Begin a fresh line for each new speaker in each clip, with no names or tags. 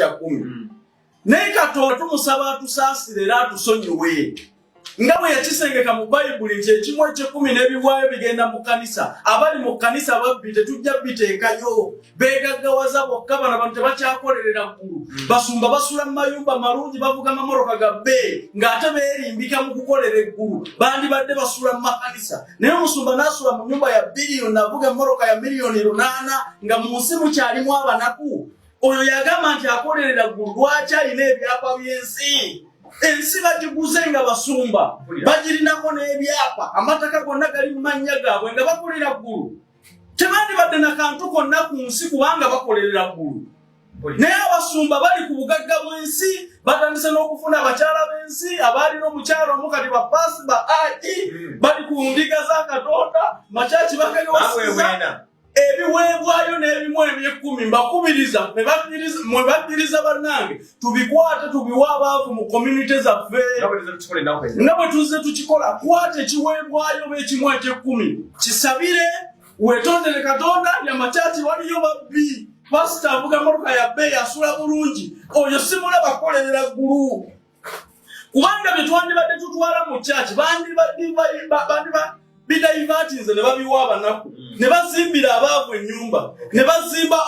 kumi hmm. naye katonda tumusaba atusaasire era atusonyiwe nga bwe yakisengeka mu bayibuli nti ekimu ekyekumi n'ebiwaayo bigenda mu kanisa abali mu kanisa babbi tetujja biteekayo begaggawaza bokka bana bantu tebakyakolerera ggulu hmm. basumba basula mu mayumba malungi bavuga mamoroka ga bee ng'ate beerimbika mu kukolera eggulu bandibadde basula mu makanisa naye omusumba n'asula mu nyumba ya biliyoni avuga emoroka ya miliyoni lunaana nga mu nsi mukyalimu abanaku oyo yagamba nti akolerera ggulu lwaki alina ebyapa by'ensi ensi bagiguze nga basumba bagirinako n'ebyapa amataka gonna gali mu mannya gaabwe nga bakolera ggulu tebandibadde na kantu konna ku nsi kubanga bakolerera ggulu naye abasumba bali ku bugagga bw'ensi batandise n'okufuna abakyala b'ensi abaalina omukyala omu kati bapaasi ba ai hmm. bali ku ndiga za katonda makyaki bakayowasiza ebiweebwayo n'ebimu eby'ekkumi mbakubiriza mwe bakkiriza bannange tubikwate tubiwe abaavu mu communite zaffe nga bwe tuzze tukikola kwata ekiweebwayo oba ekimu eky'ekkumi kisabire wetondere katonda yamakyaki waliyo babbi pasita avuga motoka ya bbeeyi asula bulungi oyo simulaba kukolerera ggulu kubanga bye twandibadde tutwala mu kyaki bandibidaivatinze ne babiwa abanaku mm. ne bazimbira abaavu ennyumba ne bazimba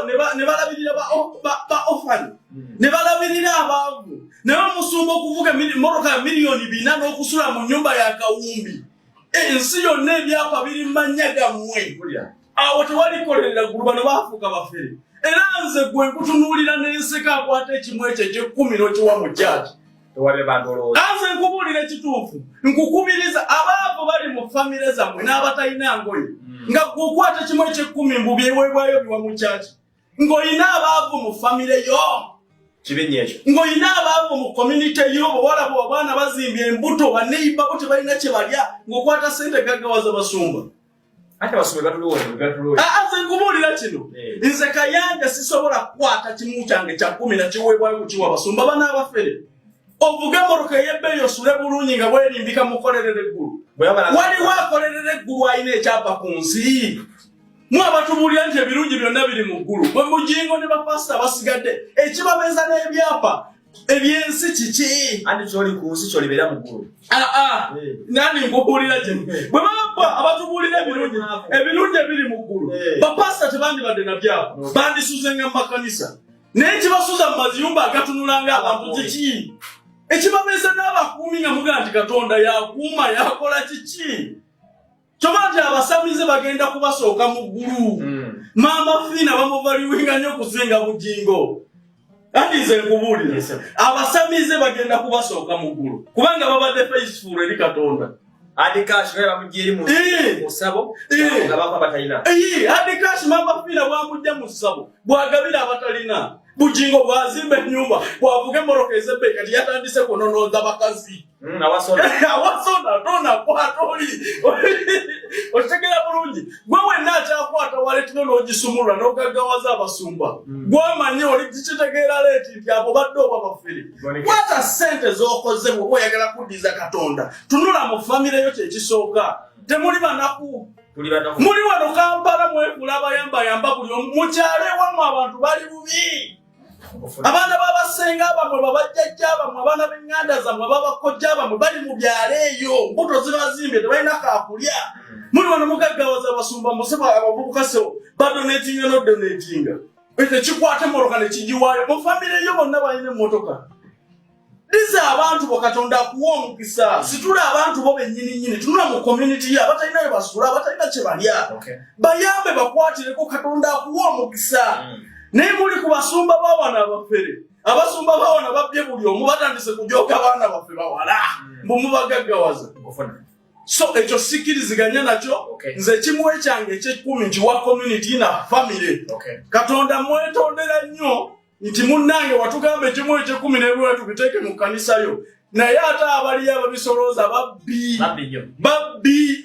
ne balabirira ba ofani mm. ne balabirira abaavu naye omusumba okuvuga moroka ya miliyoni bina n'okusula mu nyumba ya kawumbi ensi yonna ebyapa biri mannya gammwe awo tewalikolerera ggulu bano baafuuka bafere era nze gwe nkutunuulira n'enseka akwata ekimu ekyo ekyekkumi n'okiwa mu kyaki anze nkubuulira ekituufu nkukubiriza abaabo bali mu famire zammwe n'abatalina ngoye hmm. nga gwe okwata ekimu ekyekkumi mbu byeweebwayo biwa mu kyaki ng'olina abaavu mu famire yo kibinya ekyo ng'olina abaavu mu community yo bwewala bwe abaana bazimbye embuto baneiba bo tebalina kye balya ng'okwata sente gaggawaza basumba aze nkubuulira kino eh. nze kayanja sisobola kukwata kimu kyange kya kumi na kiweebwayo kukiwa basumba bana abafere ovuge emmotoka ey'ebbeeyi osule bulungi nga bwerimbika mukolerera eggulu waliwo akolerera eggulu alina ekyapa ku nsi mwe abatubuulira nti ebirungi byonna biri mu ggulu bwe mugingo ne bapasita basigadde ekibabeeza n'ebyapa ebyensi kiki andi kyoli ku nsi
kyolibeera mu ggulu aa ah, ah. eh.
nandi nkubuulira gye eh. bwe babba abatubuulira ebirungi ebirungi ebiri mu ggulu eh. bapasita tebandibadde na byapa bandisuzenga mu makanisa naye kibasuza mu maziyumba agatunulanga abantu kiki ekibabeeza n'abakuumi nga mugaa nti katonda yakuuma yakola kiki kyoba nti abasamize bagenda kubasooka mu ggulu hmm. maama fiina bamuvaliwinga nnyo okusinga bugingo anti nze nkubuulira abasamize bagenda kubasooka mu ggulu kubanga babadde faithful eri katonda adikash
naye bamujja eri musabo nga bava batalina adikash
maama fiina bwamujja mu ssabo bwagabira abatalina bugingo bwazimba ennyumba bwavuga emoroka ezebbe kati yatandise kunonoonza bakazi Mm, awasona awasona tona kwata oli okitegera bulungi gwe wenna akyakwata waletino n'ogisumulula n'ogaggawaza abasumba mm. gwamanyi oli kikitegeera leeti nti abo badde oba bafere kwata ssente z'okoze bwoba oyagala kuddiza katonda tunula mu famire yo kyekisooka temuli banaku muli wano kampala mwekula abayambayamba buli omu mukyalo ewamu abantu bali bubi abaana babasenga bamwe babajjajja bamwe abaana benganda zamwe babakojja bamwe bali mu byalo eyo mbuto zibazimbye tebalina kakulya muli wano mugaggawaza abasumba musebo abavubuka sebo badonetinga nodonetinga ekyo kikwata emmotoka nekigiwaayo mu famire yo bonna balina emmotoka diza abantu bo katonda akuwa omukisa situla abantu bo bennyini nyini tunula mu community yo abatalina bye basula abatalina kye balya bayambe bakwatireko katonda akuwa omukisa mm. naye muli ku basumba bawana abafere abasumba bawana babbye buli omu batandise kujooka abaana baffe bawala mm. mbu mubagaggawaza so ekyo sikiriziganya nakyo nze kimu ekyange ekyekumi nkiwa community na famire katonda mwetondera nnyo nti munnange watugamba ekimu ekyekumi nebula tubiteeke mu kkanisa yo naye ate abaliyo ababisolooza babbi babbi